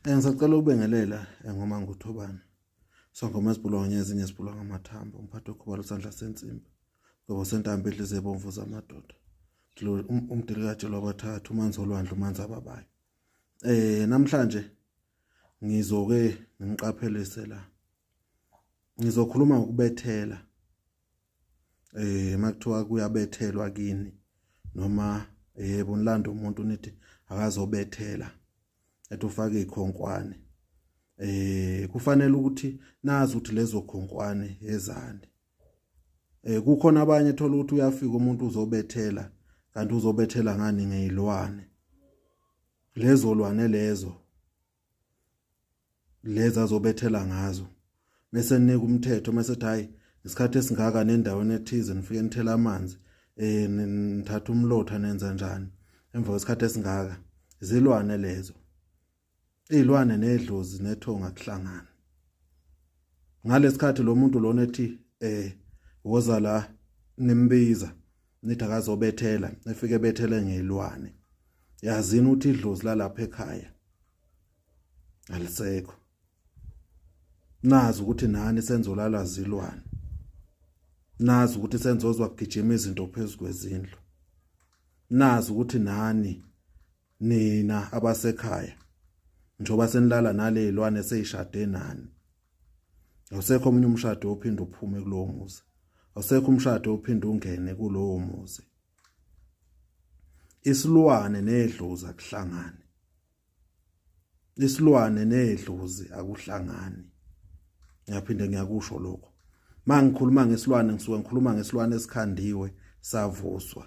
Eh, ngisacela ukubengelela eh, ngoma nguthobane sangoma esibhulwa ngezinye esibhulwa ngamathambo umphathi okhubalo sandla sensimbi ngoba sentambo edlize ebomvu zamadoda um, umdili kajelwa abathathu umanzi olwandle umanzi ababayo eh namhlanje ngizoke ngiqaphelise la ngizokhuluma ngokubethela eh makuthiwa kuyabethelwa kini noma yebo eh, nilanda umuntu nithi akazobethela ethi ufake ikhonkwane eh kufanele ukuthi nazi ukuthi lezo khonkwane ezani eh kukhona abanye thola ukuthi uyafika umuntu uzobethela kanti uzobethela ngani ngeyilwane lezo lwane lezo lezi azobethela ngazo bese nika umthetho mase ethi hayi isikhathi esingaka nendaweni ethize nifike nithela amanzi eh nithatha umlotha nenza njani emva kwesikhathi esingaka izilwane lezo izilwane nedlozi nethonga kuhlangana ngalesikhathi lo muntu lona ethi eh woza la nimbiza nithi akazobethela efike bethele ngelwane yazini uthi idlozi lalapha ekhaya alisekho nazi ukuthi nani senzolala zilwane nazi ukuthi senzozwa kugijima izinto phezulu kwezindlu nazi ukuthi nani nina abasekhaya njoba senilala nalezilwane seyishade nani awusekho omunye umshado ophinde uphume kulowo muzi awusekho umshado ophinde ungene kulowo muzi isilwane nedlozi akuhlangani isilwane nedlozi akuhlangani ngiyaphinde ngiyakusho lokho mangikhuluma ngesilwane ngisuke ngikhuluma ngesilwane esikhandiwe savuswa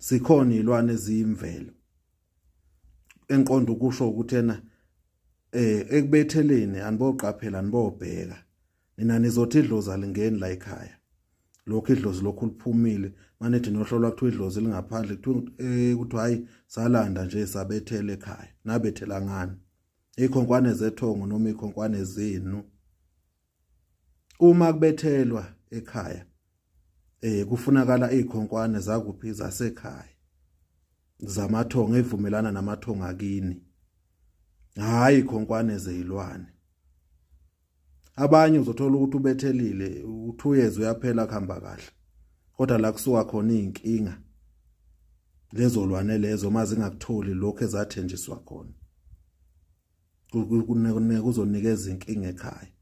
sikhona izilwane eziyimvelo enqondo ukusho ukuthi ena eh ekubetheleni aniboqaphela nibobheka nina nizothi idlozi alingeni la ekhaya lokho idlozi lokhu liphumile manethi nohlolwa kuthiwa idlozi lingaphandle kuthiwa eh, kuthiwa hayi salanda nje sabethele ekhaya nabethela ngani ikhonkwane zethongo noma ikhonkwane zenu uma kubethelwa ekhaya eh kufunakala izikhonkwane zakuphi zasekhaya zamathongo evumelana namathongo akini hayi khonkwane zezilwane abanye uzothola ukuthi ubethelile uthuyeze uyaphela kuhamba kahle kodwa la kusuka khona izinkinga lezolwane lezo mazingakutholi lokho ezathenjiswa khona kuzonikeza inkinga ekhaya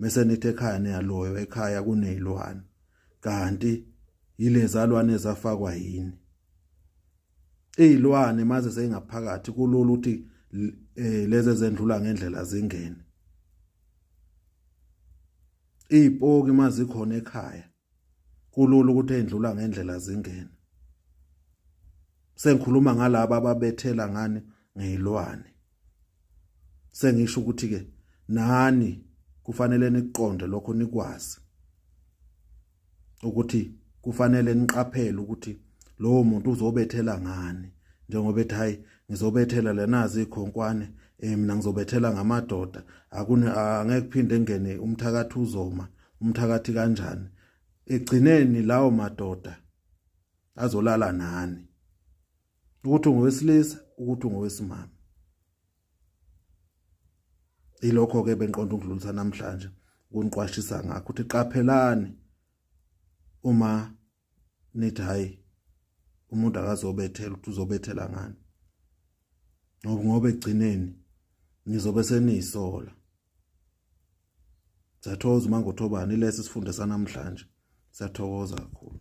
mese nithi ekhaya niyaloyo ekhaya kunezilwane kanti yilezalwane ezafakwa yini izilwane maze seyingaphakathi kulula ukuthi eh, lezi zendlula ngendlela zingene izipoki mazikhona ekhaya kulula ukuthi endlula ngendlela zingene sengikhuluma ngalabo ababethela ngani ngeyilwane sengisho ukuthi ke nani kufanele niqonde lokho nikwazi ukuthi kufanele niqaphele ukuthi lowo muntu uzobethela ngani njengoba ethi hayi ngizobethela lenazi ikhonkwane eh mina ngizobethela ngamadoda akune angeke phinde ngene umthakathi uzoma umthakathi kanjani egcineni lawo madoda azolala nani ukuthi ungowesilisa ukuthi ungowesimama ilokho ke benqonda ukudlulisa namhlanje kuniqwashisa ngakho ukuthi qaphelani uma nithi hayi umuntu akazobethela ukuthi uzobethela ngani ngoba ngoba egcineni nizobe seniyisola Sathokoza uMangothobani lesi sifunde sanamhlanje. Sathokoza kakhulu.